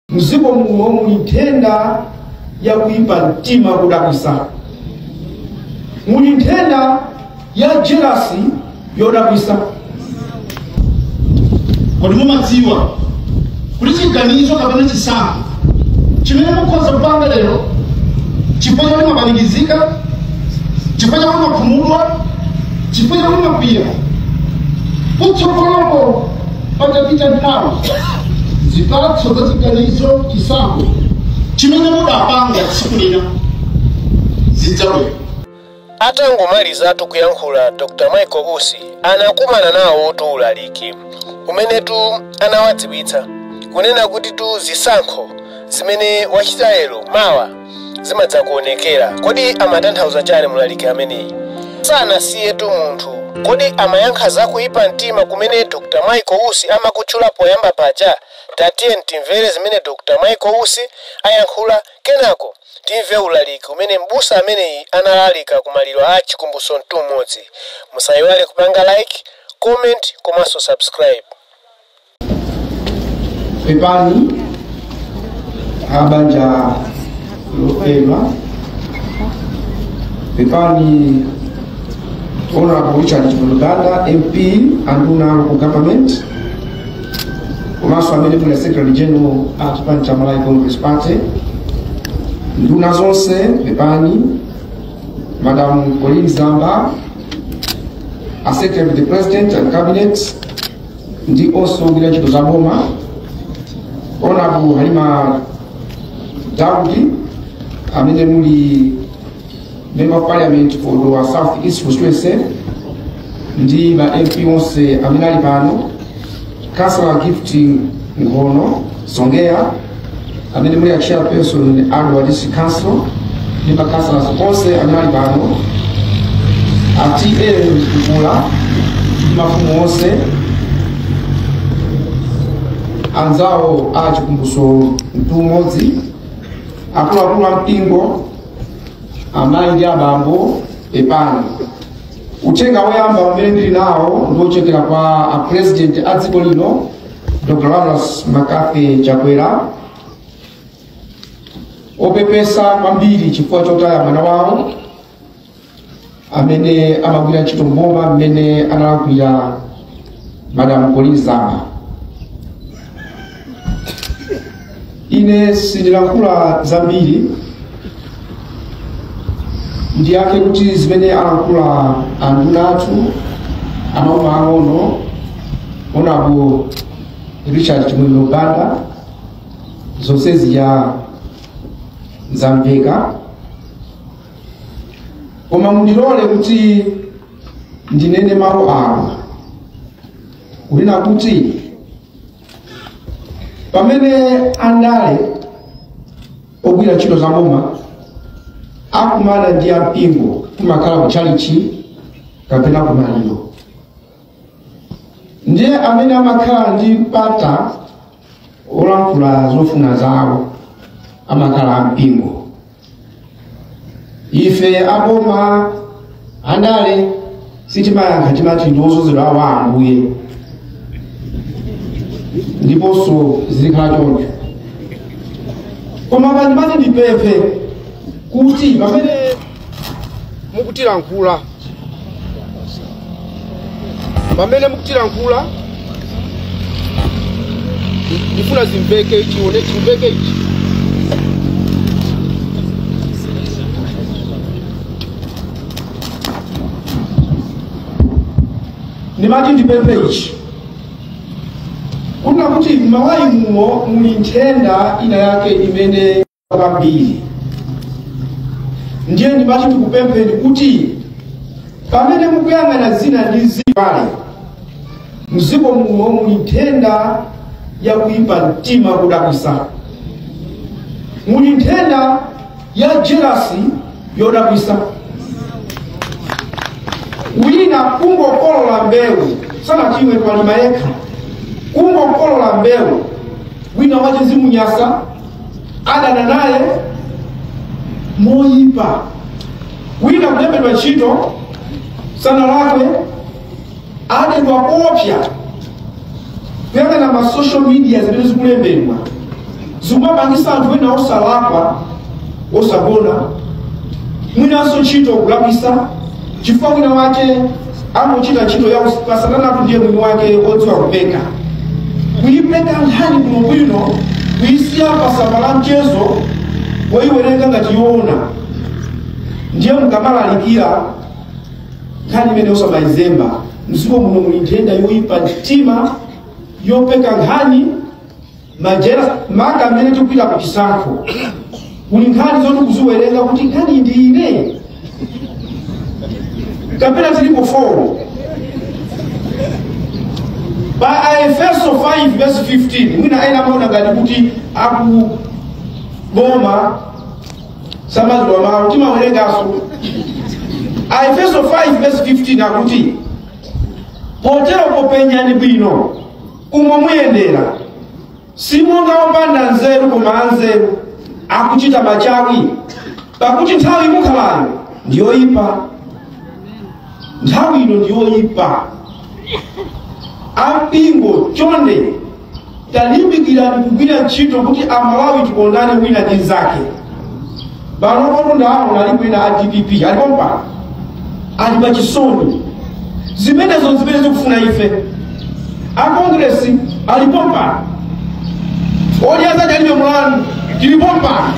mdziko muno muli nthenda ya kuipa mtima kodabwitsa muli nthenda ya jelasi yodabwitsa kodi mumadziwa kuti chiganizo kapena chisankho chimene mukhoza kupanga lero chifukwa chakuti mwapanikizika chifukwa chakuti mwakhumudwa chifukwa chakuti mwakwiya kutsogoloko patapita nthawi zipatso za chiganizo chisankho chimene mudapanga tsiku lina zidzabwera atangomalizatu kuyankhula dr michael usi anakumana nawotu ulaliki umenetu anawadziwitsa kunena kutitu zisankho zimene wachita lero mawa zimadzakuonekera. Kodi amatanthauza chani mlaliki ameneyi? Sanasiyetu munthu. Kodi amayankha za kuipa mtima kumene Dr. Michael Usi amakutchula poyamba paja? Tatiyeni timvere zimene Dr. Michael Usi ayankhula kenako timve ulaliki umene m'busa ameneyi analalika ku maliro a Chikumbutso Mtumodzi. Musaiwale kupanga like, comment komanso subscribe. pepani abanja lofedwa pepani honorable richard chimwendo banda mp anduna a local government komanso amene muli secretary general a chipani cha malawi congress party nduna zonse pepani madam colleen zamba a secretary to the president and cabinet ndi onse ogwira ntchito za boma onabu halima daud amene muli member of parliament for Dowa south east constituency ndi ma mp onse amene ali pano councilor gift Nkhono Songea amene muli a chairperson a Dowa district council ndi makansala onse amene ali pano a TA Mkukula ndi mafumu onse anzawo a chikumbutso mtumodzi akuluakulu a mpingo amayi ndi abambo pepani uthenga woyamba umene ndili nawo ndi wochokera kwa a president a dziko lino Dr. Lazarus McCarthy Chakwera opepesa kwambiri chifukwa chotaya mwana wawo amene amagwira ntchito mboma mmene ananenera madam Colleen Zamba ine sindilankhula zambiri ndiyake kuti zimene alankhula anduna athu a maboma ang'ono onarebo richard chimwemwe banda zonse zija zamveka koma mundilole kuti ndinene mawu awa kunena kuti pamene andale ogwira ntchito za boma akumana ndi ampingo kumakhala kutchalichi kapena kumaliro ndiye amene amakhala ndi mpata olankhula zofuna zawo amakhala ampingo ife aboma andale sitimayankha timati ndi odzozedwa awo a ambuye ndiponso zizikhala choncho koma pano ndimati ndipemphe kuti pamene mukutilankhula pamene mukutilankhula ndifuna zimveke ichi wani chimveke ichi ndimati ndipemphe ichi kunena kuti m'malawi muno muli nthenda ina yake imene kwambiri ndiye ndimati ndikupempheni kuti pamene mukuyang'ana zina ndi zina abale mdziko muno muli nthenda ya kuipa mtima kudabwitsa muli nthenda ya jelasi yodabwitsa wina kungokolola mbewu sanachimwe walima yekha kungokolola mbewu wina wayamba zimunyasa adana naye moyipa wina kulembedwa ntchito sanalakwe adedwa koopsa kuyang'ana ma social media zimene zikulembedwa zikumapangitsa anthu ena osalakwa osagona mwinanso ntchito kuwathetsa chifukwa wina wake amuchita ntchito ya usatanatu ndiye mwini wake odziwa kupeka kuyipeka nkhani bwinobwino kuyisiya pasamba la mchezo woyiwerenga ngati yoona ndiye mukamalalikira nkhani imeneyo osamayizemba mdziko muno muli nthenda yoyipa mtima yopeka nkhani makamaka mmene tikupita ku chisankho kuli nkhani zoti kuziwerenga kuti nkhani ndi iyi kapena zilipo 4 pa aefeso 5 verse 15 mwina ena amaona ngati kuti akugoma samala mawu timawerenganso aefeso 5 verse 15 akuti potero popenyani bwino umo muyendera simonga opanda nzeru koma anzeru akuchita machawi pakuti nthawi imukhalamo ndiyoyipa nthawi ino ndiyoyipa ampingo chonde talimbikirani kugwira ntchito kuti amalawi tikondane wina ndi mnzake pano ndaona alipo ena a dpp alipo pano ali pa chisoni zimenezo zimene zikufuna ife a kongresi alipo pano alliance alibe mulandu alipo pano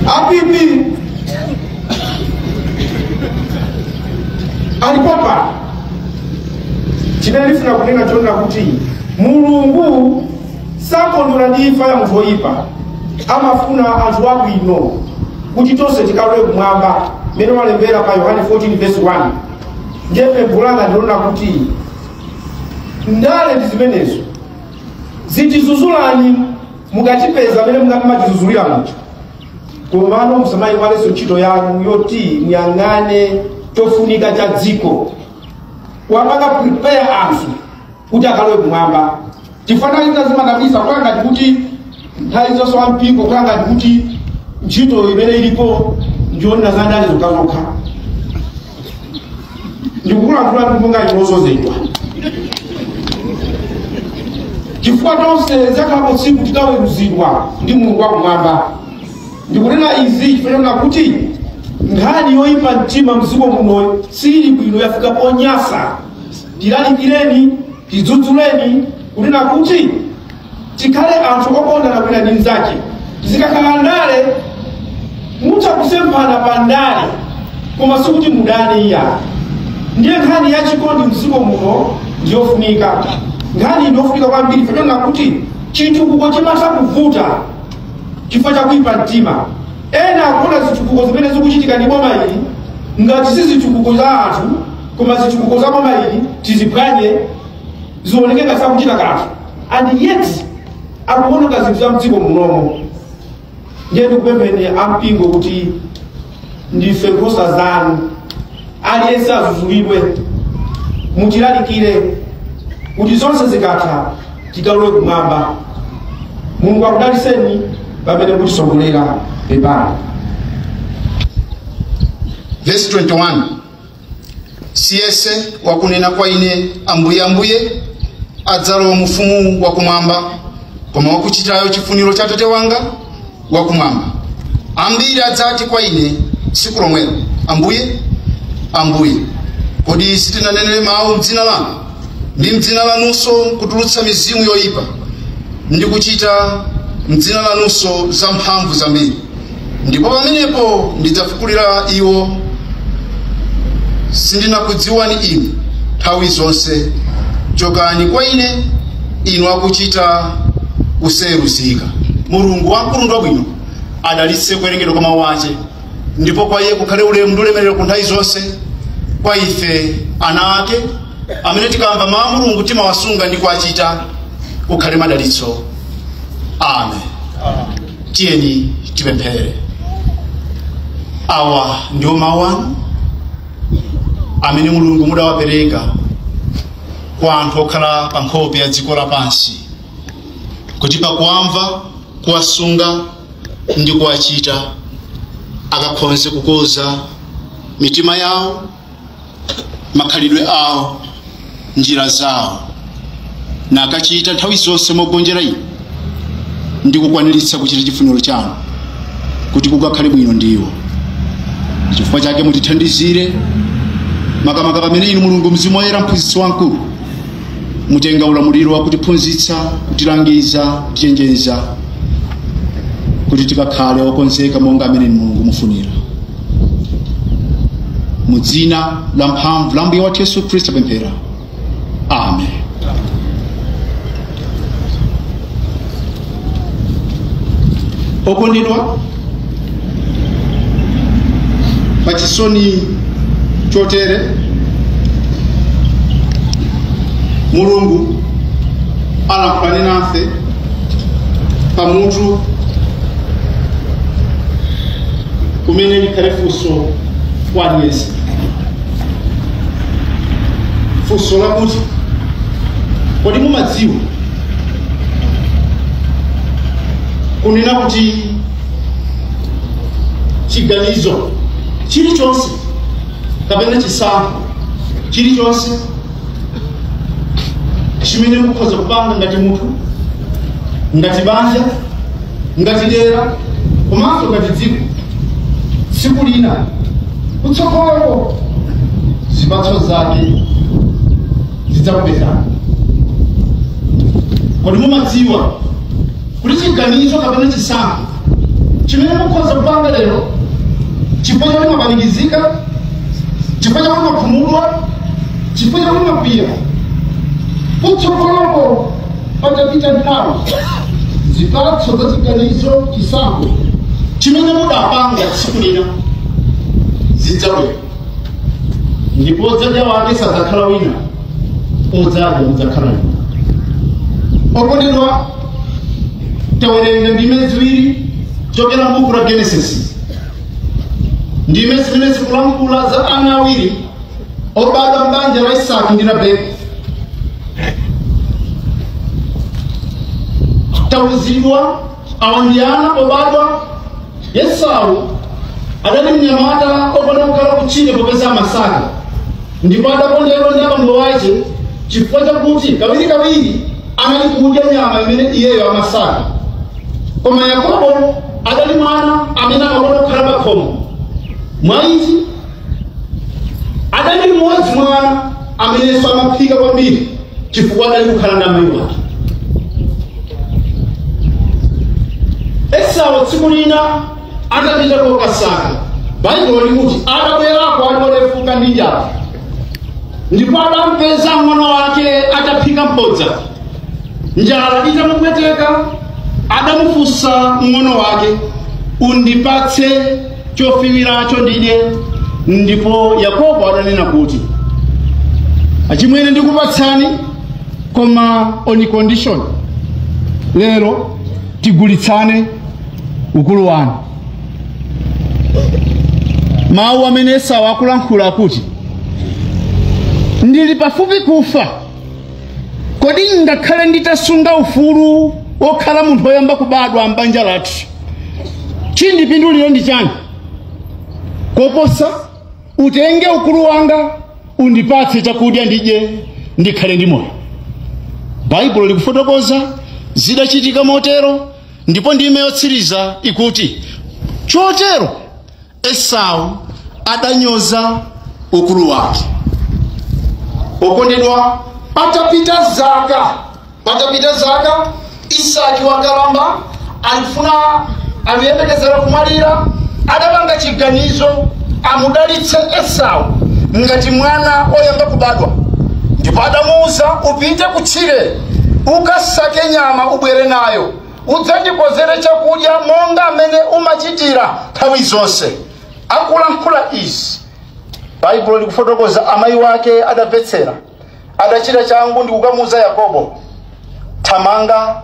a pp alipo pano chimene ndifuna kunena chonena kuti mulungu sakondwera ndi imfa ya munthu woyipa amafuna anthu abwino kuti tonse tikalowe kumwamba mmene walembera pa yohane 14 verse 1 ndiye pempho langa ndi lonena kuti ndale ndi zimenezo zitidzudzulani mukatipeza mmene mungamatidzudzulira mutha komano musamaiwalenso ntchito yanu yoti muyang'ane chofunika cha dziko wapanga prepare anthu kuti akalowe kumwamba chifukwa izi zimachititsa kukhala ngati kuti nthawi zonse wa mpingo kukhala ngati kuti ntchito imene ilipo ndiyonena za ndale zokhazokha ndikukulankhula ndi monga chilozozedwa chifukwa tonse likhalapo tsiku tikaweruzidwa ndi mulungu wakumwamba ndikunena izi chifukwa chonena kuti nkhani yoyipa mtima mdziko muno sili bwino yafika ponyasa tilalikireni tidzudzuleni kunena kuti tikhale anthu okondana wina ndi mnzake zikakhala ndale mutha kusemphana pa ndale koma sikuti mudane iyayi ndiye nkhani ya chikondi mdziko muno ndiyofunika nkhani iyi ndiyofunika kwambiri chifukwa chonena kuti chitukuko chimatha kuvuta chifukwa cha kuipa mtima ena akuona zitukuko zimene zikuchitika ndi boma ili ngati si zitukuko za anthu koma zitukuko za boma ili tiziphwanye zioneke ngati sakuchita kanthu and yet akuononga zinthu za m'dziko munomo ndiye ndikupempheni ampingo kuti ndife nkhosa zanu aliyense azuzulidwe mutilalikire kuti zonse zikatha tikalowe kumwamba mulungu akudaliseni pamene mutisogolera pepani siyense wakunena kwa ine ambuye ambuye adzalowa mufumu wakumwamba koma wakuchitayo chifuniro cha tate wanga wakumwamba ambiri adzati kwa ine tsiku lomwelo ambuye ambuye kodi sitinanenere mawu mdzina lanu ndi mdzina lanunso kutulutsa mizimu yoyipa ndi kuchita mdzina lanunso zamphamvu zambiri ndipo pamenepo ndidzafukulira iwo sindinakudziwani inu nthawi zonse chokani kwa ine inu akuchita kusayeruzika mulungu wamkulu ndi wabwino adalitse kuwerengedwa kwa mawu ache ndipo kwa iye kukhale ulemu ndi ulemerero ku nthawi zonse kwa ife ana ake amene tikamva mawu a mulungu timawasunga ndi kuwachita kukhale madalitso amen tiyeni tipemphere awa ndiwo mawu anu amene mulungu mudawapereka kwa anthu okhala pa nkhope ya dziko lapansi kuti pakuwamva kuwasunga ndi kuwachita akakhonze kukonza mitima yawo makhalidwe awo njira zawo nakachita nthawi zonse mogonjera inu ndi kukwaniritsa kuchita chifuniro chanu kuti kukakhale bwino ndi iwo chifukwa chake mutithandizire makamaka pamene inu mulungu mzimu woyera mphunzitsi wamkulu mutenga ulamuliro wa kutiphunzitsa kutilangiza kutichenjeza kuti tikakhale okonzeka monga amene mulungu mufunira mu dzina la mphamvu la mbuye wathu yesu khristu tapemphera amen okondedwa pachisoni chotere mulungu alankhulane nafe pamutu umene likhale funso kwa aliyense funso lakuti kodi mumadziwa kunena kuti chiganizo chilichonse kapena chisankho chilichonse chimene mukhoza kupanga ngati munthu ngati banja ngati dera komanso ngati dziko tsiku lina kutsogoloko zipatso zake zidzakupezani. Kodi mumadziwa kuti chiganizo kapena chisankho chimene mukhoza kupanga lero chifukwa chakuti mwapanikizika, chifukwa chakuti mwakhumudwa, chifukwa chakuti mwakwiya, kutsogoloko patapita nthawi zipatso za chiganizo, chisankho chimene mudapanga tsiku lina zidzabwera. ndipo odzadya wake sadzakhala wina odzadya mudzakhala inu okondedwa tawerenga ndime ziwiri zochokera mbuku la genesis ndime zimene zikulankhula za ana awiri obadwa mbanja la isaki ndi rebeka tauzidwa Awa ndi ana pobadwa. Esau adali mnyamata okonda kukhala kutchire popeza amasaka ndipo adakondedwa ndi abambo wake chifukwa chakuti kawirikawiri anali kudya nyama imene iyeyo amasaka koma yakobo adali mwana amene amakonda kukhala pakhomo mwa ichi adali mmodzi mwa ana amenenso amaphika kwambiri chifukwa adali kukhala ndi amayi wake esau tsiku lina atapita kokasaka baibulo likuti atabwerako ali olefuka ndi njala ndipo adampeza mng'ono wake ataphika mphodza njala itamupweteka adamufunsa mng'ono wake undipatse chofiwiracho ndidye ndipo yakobo adanena kuti achimwene ndikupatsani koma on condition lero tigulitsane ukulu wanu mawu amene esau akulankhula akuti ndili pafupi kufa kodi ngakhale nditasunga ufulu wokhala munthu woyamba kubadwa m'banja lathu chindipindulira nchani koposa utenge ukulu wanga undipatse chakudya ndidye ndikhale ndi moyo baibulo likufotokoza zidachitika motero ndipo ndime yotsiriza ikuti chotero esau adanyoza ukulu wake okondedwa patapita zaka patapita zaka isaki wakalamba alifuna aliyembekezera kumwalira adapanga chiganizo amudalitse esau ngati mwana oyamba kubadwa ndipo adamuwuza upite kutchire ukasake nyama ubwere nayo udzandikonzere chakudya monga amene umachitira nthawi zonse akulankhula izi baibulo likufotokoza amayi wake adamvetsera adachita changu ndi kukamuuza yakobo thamanga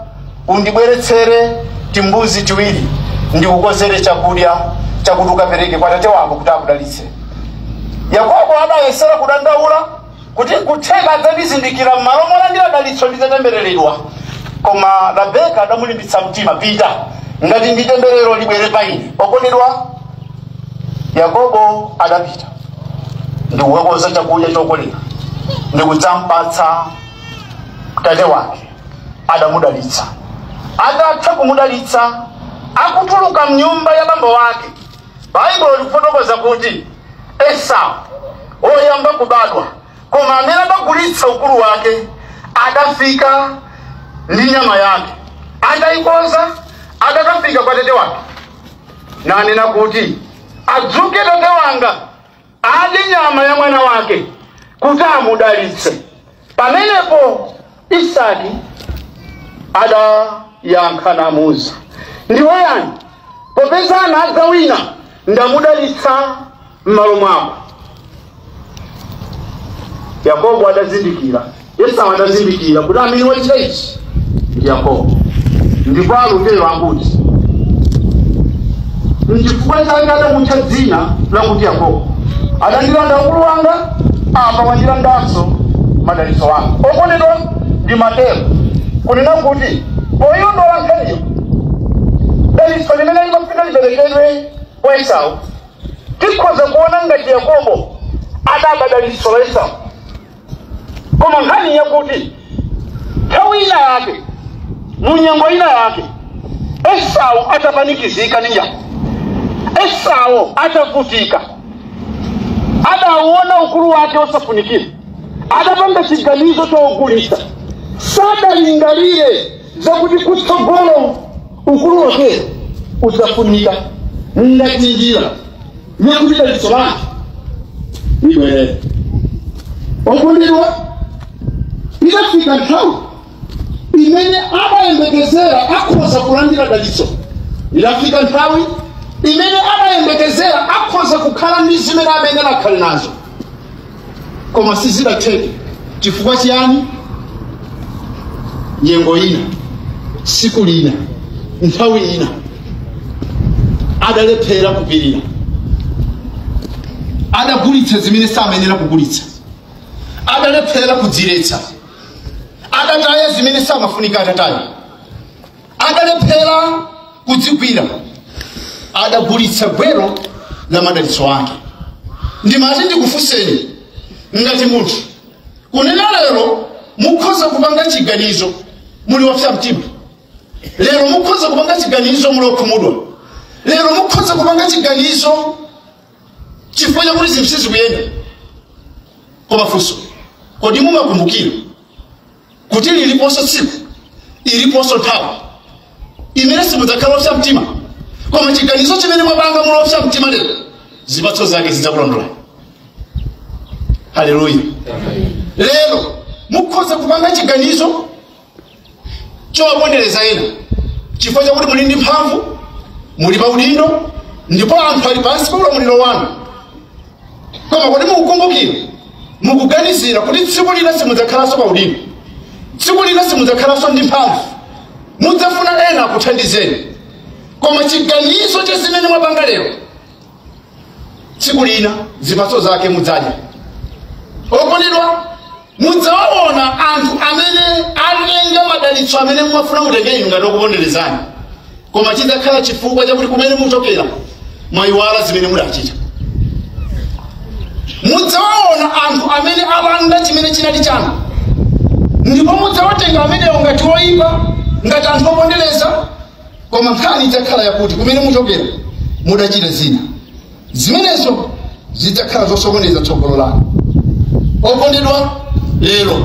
undibweretsere timbuzi tiwiri ndikukonzere chakudya chakuti ukapereke kwa tate wako kuti akudalitse yakobo adayesera kudandaula kuti kutheka adzandizindikira m'malo molandira dalitso ndidzatembereredwa koma rabeka adamulimbitsa mtima pita ngati ndi temberero libwere pa ine okondedwa yakobo adapita ndikukakonza chakudya chokolera ndikudzampatsa tate wake adamudalitsa atatha kumudalitsa akutuluka mnyumba ya bambo wake baibulo likufotokoza kuti esau woyamba kubadwa koma amene adagulitsa ukulu wake atafika ndi nyama yake atayikonza atakafika kwa tate wake nanena kuti adzuke tate wanga adye nyama ya mwana wake kuti amudalitse pamenepo isaki adayankha namuuza ndiwe yani popeza anadza wina ndamudalitsa m'malo mwako yakobo adazindikira esau adazindikira kuti amene wachita ichi ndi yakobo ndipo alutero akuti nchifukwa chake adamutcha dzina lakuti yakobo adandilanda ukulu wanga apa wandilandanso madalitso anga okondedwa ndimatero kunena kuti poyiona nkhaniyo dalitso limene limafunika liperekedwe kwa esau tikhoza kuona ngati yakobo adaba dalitso la esau koma nkhani yakuti nthawi ina yake mu nyengo ina yake esau atapanikizika ndi njala esau atavutika adauona ukulu wake osafunikira adapanga chiganizo chogulitsa sadalingalire zakuti kutsogolo ukulu wake udzafunika ngati njira mwakuti dalitso lake libwerere okondedwa idafika nthawi imene amayembekezera akhoza kulandira dalitso idafika nthawi imene amayembekezera akhoza kukhala ndi zimene bwenzi adakhala nazo koma sizidatheke chifukwa chiyani nyengo ina siku lina nthawi ina adalephera kupirira adagulitsa zimene samayenera kugulitsa adalephera kudziletsa adataya zimene samafunika ataye adalephera kudzigwira adagulitsa gwero la madalitso ake ndimati ndikufunseni ngati munthu kunena lero mukhoza kupanga chiganizo muli opsa mtima lero mukhoza kupanga chiganizo muli okhumudwa lero mukhoza kupanga chiganizo chifukwa chakuti zinthu sizikuyenda koma funso kodi mumakumbukira kuti liliponso tsiku iliponso nthawi imene simudzakhala opsa mtima koma chiganizo chimene mwapanga muli opsa mtima lero zipatso zake zidzakulondola haleluya lero mukhoza kupanga chiganizo chowapondereza ena chifukwa chakuti muli ndi mphamvu muli pa udindo ndipo anthu ali pansi pa ulamuliro wanu koma kodi mukukumbukira mukuganizira kuti tsiku lina simudzakhalanso pa udindo tsiku lina simudzakhalanso ndi mphamvu mudzafuna ena akuthandizeni koma chiganizo cha zimene mwapanga lero tsiku lina zipatso zake mudzadya okondedwa mudzawaona anthu amene atenga madalitso amene mumafuna mutenge inu ngati okuponderezani koma chidzakhala chifukwa chakuti kumene muchokera mwayiwala zimene mudachita mudzawaona anthu amene alanda chimene chinali chanu ndipo mudzawatenga amenewo ngati oyipa ngati anthu opondereza koma nkhani idzakhala yakuti kumene muchokera mudachita zina zimenezo zidzakhala zosokoneza tsogolo lanu okondedwa lero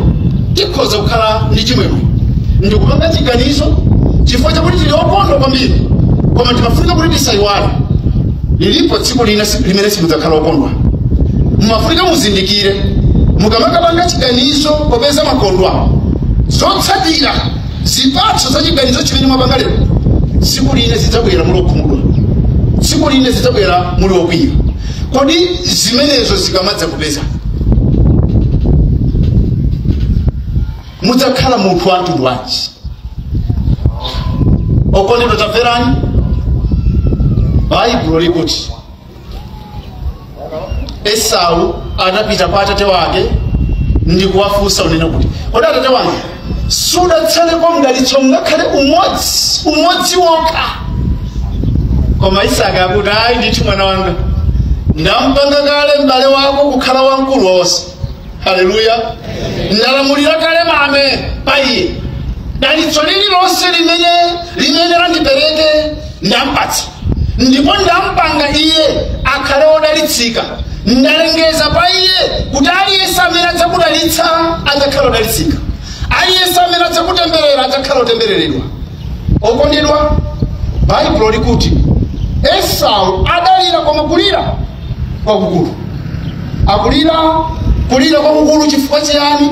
tikhoza kukhala ndi chimwemwe ndikupanga chiganizo chifukwa chakuti tili okondwa kwambiri koma timafunika kuti tisayiwale lilipo tsiku lina si- limene simudzakhala okondwa mumafunika muzindikire mukamakapanga chiganizo popeza mwakondwa zotsatira zipatso za chiganizo chimene mwapanga lero tsiku lina zidzabwera muli okhumudwa tsiku lina zidzabwera muli okwiya kodi zimenezo zikamadzakupezani mudzakhala munthu wa mtundu wanji okondedwa tamverani baibulo likuti esau anapita kwa atate wake ndikuwafunsa unene kuti kodi atate wanga sudatsalepo mdalitso ngakhale umodzi umodzi wokha koma isaki akuti ayi ndithu mwana wanga ndampanga kale m'bale wako kukhala wamkulu wonse haleluya ndalamulira kale mame pa iye dalitso lililonse limene limene nadapereke ndampatsa ndipo ndampanga iye akhale wodalitsika ndalengeza pa iye kuti aliyense amene adzakudalitsa adzakhala wodalitsika aliyense amene adzakutemberera adzakhala wotembereredwa okondedwa baibulo likuti esau adalira koma kulira kwakukulu akuti kulira kwakukulu chifukwa chiyani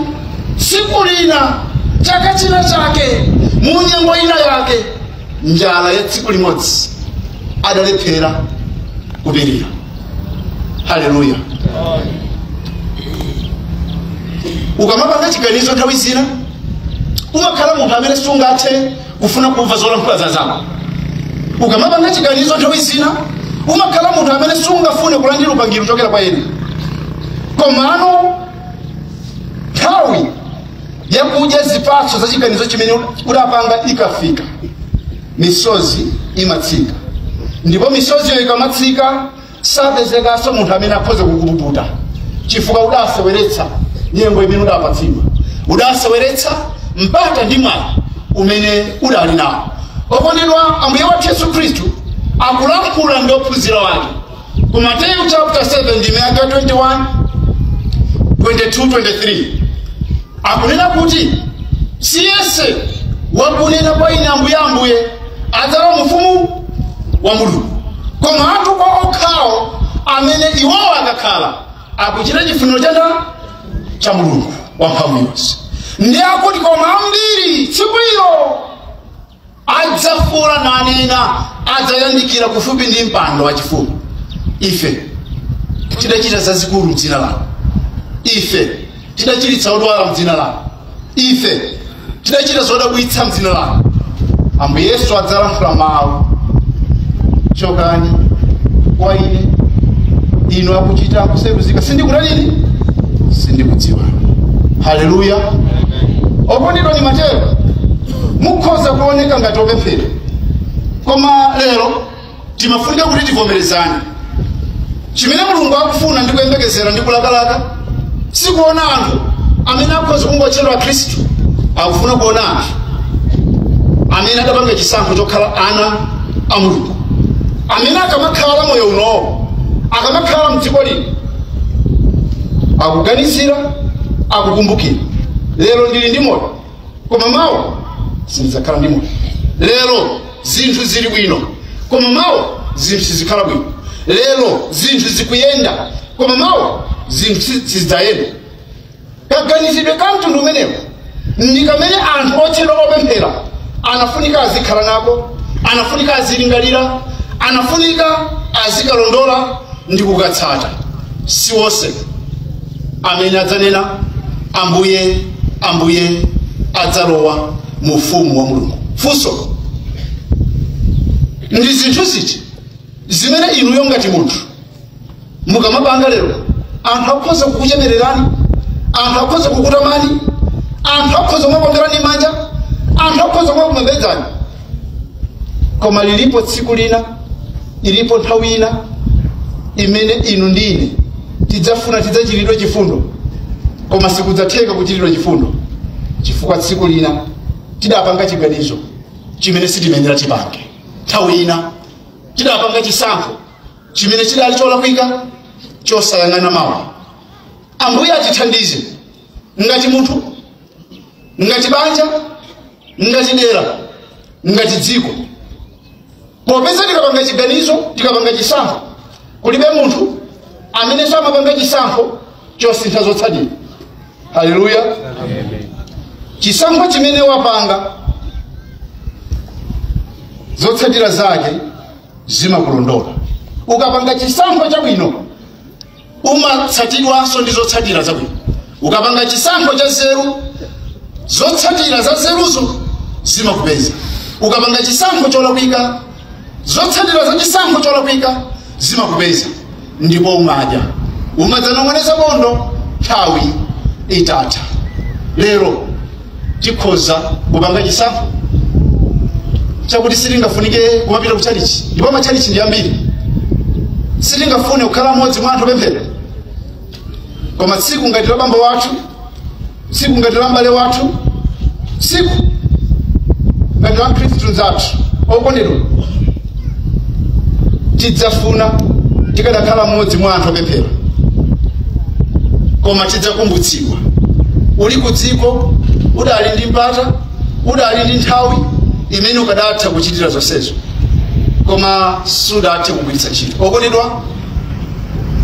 tsiku lina chaka china chake mu nyengo ina yake njala ya tsiku limodzi adalephera kupirira haleluya ukamapanga chiganizo nthawi zina umakhala munthu amene sungathe kufuna kumva zolankhula za anzako ukamapanga chiganizo nthawi zina umakhala munthu amene sungafune kulandira upangiri kuchokera kwa ena komano nthawi yakudya zipatso za chiganizo chimene udapanga ikafika misozi imatsika ndipo misozi iyo ikamatsika sapezekanso munthu amene akhoza kukupukuta chifukwa udaseweretsa nyengo imene udapatsidwa udaseweretsa mpata ndi mwayi umene udali nawo okondedwa ambuye wathu yesu khristu akulankhula ndi ophunzira wake ku mateyu chapter 7 ndime ya 21 22 23 akunena kuti siyense wakunena kwa ine ambuye ambuye adzalowa mu ufumu wa mulungu koma anthu okhawo amene iwowo akakhala akuchita chifuniro cha ndani cha mulungu wamphamvu yonse ndiye akuti koma ambiri tsiku ilo adzafuula nanena adzayandikira kufupi ndi mpando wachifumu ife tidachita zazikulu mdzina lanu ife tidachiritsa odwala mdzina lanu ife tidachita zodabwitsa mdzina lanu ambuye yesu adzalankhula mawu chokani kwa ine inu akuchita kusayeruzika sindikutani sindikudziwani haleluya okondedwa mumatero mukhoza kuoneka ngati opemphera koma lero timafunika kuti tivomerezane chimene mulungu akufuna ndi kuyembekezera ndi kulakalaka sikuona anthu amene akhoza kungotchedwa akhristu akufuna kuona anthu amene adapanga chisankho chokhala ana a mulungu amene akamakhala moyo unowo akamakhala mdziko lino akuganizira akukumbukira lero ndili ndi moyo koma mawa sindidzakhala ndi moyo lero zinthu zili bwino koma mawa zinthu sizikhala bwino lero zinthu zikuyenda koma mawa zinthu si- sizidzayenda kaganizidwe ka mtundu umenewo ndi kamene anthu otchedwa opemphera anafunika azikhala nako anafunika azilingalira anafunika azikalondola ndi kukatsata si wonse amene adzanena ambuye ambuye adzalowa mu ufumu wa mulungu funso ndi zinthu ziti zimene inuyo ngati munthu mukamapanga lero anthu akhoza kukuchemererani anthu akhoza kukutamani anthu akhoza kumakuomberani manja anthu akhoza kumakupembedzani koma lilipo tsiku lina ilipo nthawi ina imene inu ndi ine tidzafuna tidzachitidwe chifundo koma sikudzatheka kuchitidwa chifundo chifukwa tsiku lina tidapanga chiganizo chimene sitimayenera tipange nthawi ina tidapanga chisankho chimene chidali cholakwika chosayang'ana mawa ambuye atithandize ngati munthu ngati banja ngati dera ngati dziko popeza tikapanga chiganizo tikapanga chisankho kulibe munthu amene samapanga chisankho chosintha zotsatira haleluya chisankho chimene wapanga zotsatira zake zimakulondola ukapanga chisankho chabwino umatsatidwanso ndi zotsatira zabwino ukapanga chisankho cha zeru zotsatira za zeruzo zimakupeza ukapanga chisankho cholakwika zotsatira za chisankho cholakwika zimakupeza ndipo umadya umadzanong'oneza bondo nthawi itatha lero tikhoza kupanga chisankho chakuti sitingafunike kumapita ku chalichi ndipo machalichi ndi ambiri sitingafune kukhala mmodzi mwa anthu opemphera koma tsiku ngati la bambo wathu tsiku ngati la mbale wathu tsiku ngati la mkhristu mzathu okondedwa tidzafuna tikadakhala mmodzi mwa anthu opemphera koma tidzakumbutsidwa uli ku dziko udali ndi mpata udali ndi nthawi imene ukadatha kuchitira zonsezo koma sudathe kugwiritsa ntchito okondedwa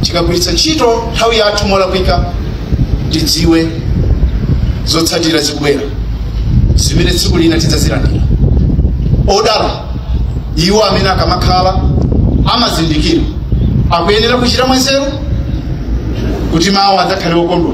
tikagwiritsa ntchito nthawi yathu molakwika tidziwe zotsatira zikubwera zimene tsiku lina tidzazilandira odala iwo amene akamakhala amazindikira akuyenera kuchita mwanzeru kuti mawa adzakhale okondwa